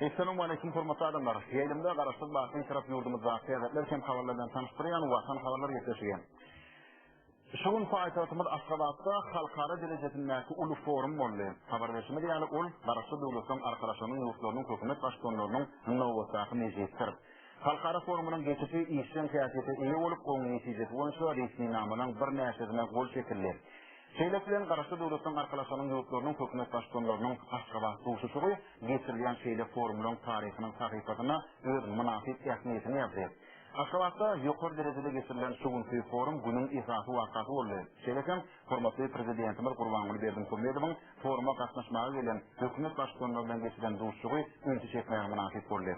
Esselamu aleyküm hormatly adamlar. Ýaýlymda garaşsyz batyň tarap ýurdumyzda täzetler hem habarlardan tanyşdyrýan watan habarlar ýetişýär. Şu gün paýtagtymyz Aşgabatda halkara derejesindäki uly forum boldy. Habar berşimiz ýaly, ol Garaşsyz Döwletleň Arkalaşygynyň ýurtlarynyň hökümet baştutanlarynyň nobatdaky mejlisdir. Halkara forumynyň geçişi işjeň häsiýete eýe bolup, oň netijesi boýunça resminamalaryň birnäçesine gol çekildi. Şeýle bilen, Garaşsyz Döwletleň Arkalaşygynyň ýurtlarynyň hökümet baştutanlarynyň Aşgabat duşuşygy geçirilýän şeýle forumlaryň taryhynyň sahypasyna öz mynasyp ähmiýetini ýazdy. Aşgabatda ýokary derejede geçirilen şu günki forum günüň esasy wakasy boldy. Şeýle hem, hormatly Prezidentimiz Gurbanguly Berdimuhamedowyň foruma gatnaşmaga gelen hökümet baştutanlary bilen geçiren duşuşygy ünsi çekmäge mynasyp boldy.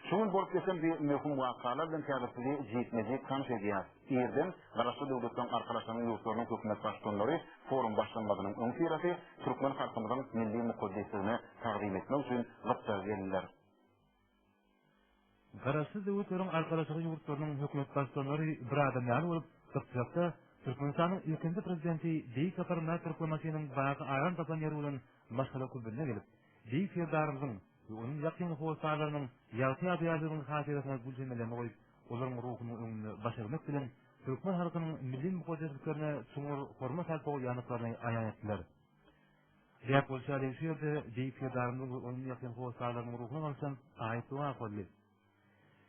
Şu gün bolup geçen bi möhüm wakalar bilen häzir sizi jikme-jik tanyş edýäs. Irden Garaşsyz Döwletleriň Arkalaşygynyň ýurtlarynyň hökümet baştutanlary forum başlanmazynyň öňüsyrasy türkmen halkymyzyň milli mukaddesligine tagzym etmek üçin gytdaga geldiler. Garaşsyz döwletleriň Arkalaşygy ýurtlarynyň hökümet baştutanlary bir adam ýaly bolup, Gypjakda Türkmenistanyň ilkinji prezidenti Beýik Sapar Myrat Türkmenbaşynyň baky aram tapan ýeri bolan Maşgala Kubyna gelip, Beýik Serdarymyzyň we onuň ýakyn hossarlarynyň ýagty ýadygärliginiň hatyrasyna gül çemelerini goýup, olaryň ruhunyň öňünde baş egmek bilen, türkmen halkynyň milli mukaddesliklerine çuňňur hormat-sarpa goýýandyklaryny aýan etdiler. Däp bolşy ýaly, şu ýerde beýik Serdarymyzyň we onuň ýakyn hossarlarynyň ruhuna bagşlan aýat doga okaldy.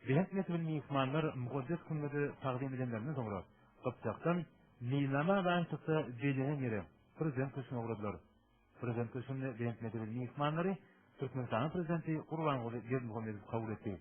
Belent mertebeli myhmanlar mukaddes kümmedi tagzym edenlerinden soňra, Gypjakdan meýilnama alaýyşlykda bellenen ýere, Prezident köşgüne ugradylar. Prezident köşgünde belent mertebeli myhmanlary Türkmenistanyň Prezidenti Gurbanguly Berdimuhamedow kabul etdi.